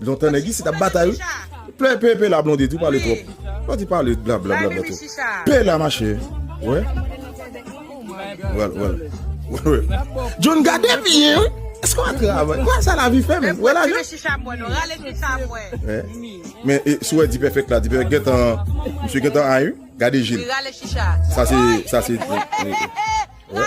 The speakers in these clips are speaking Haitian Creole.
Lontan nèg isit ap batay wi. Plè pe pe la blondedy ou pale trop Ou di pale bla bla bla bla tou Pe la mache Wè Wèl wèl Wèl John gade byen wi Eske wap travay Wè sa lavi fè menm Wè lajan Men e sou wè dipèfèk la dipèfèk gentan Misye gentan ay wi Gade jil Sa se Sa se Wè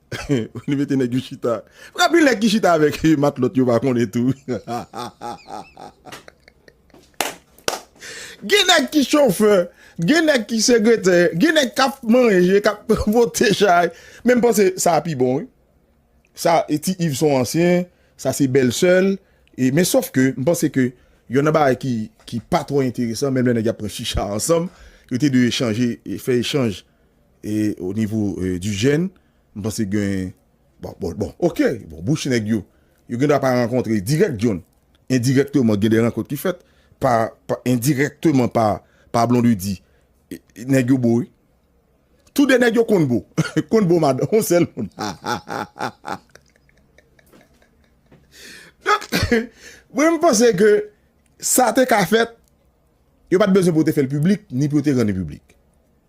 Li mete nèg yo chita. Fok anpil nèg ki chita avèk matlòt yo pa konnen tou. Gen nèg ki chofè, gen nèg ki segretè, gen nèg k ap manje, k ap pote chay. Men m panse sa a pi bon wi. Sa e ti Iv son ansyen, sa se bèlsè l. E men sof ke m panse ke yonn nan bagay ki ki pa twò enteresan menm lè nèg y ap pran chicha ansanm, yo te dwe echanje, fè echanj. E o nivo di jèn m panse gen bon bon ok bon bouch nèg yo yo gen dwa pa rankontre dirèk dyon endirèkteman gen de rankont ki fèt pa endirèkteman pa pa blondedy nèg yo bo wi tou de nèg yo konn bo konn bo madan yon sèl moun hahahaha donk mwen m panse ke sa te ka fèt yo pat bezwen pou yo te fèl piblik ni pou yo te rann li piblik.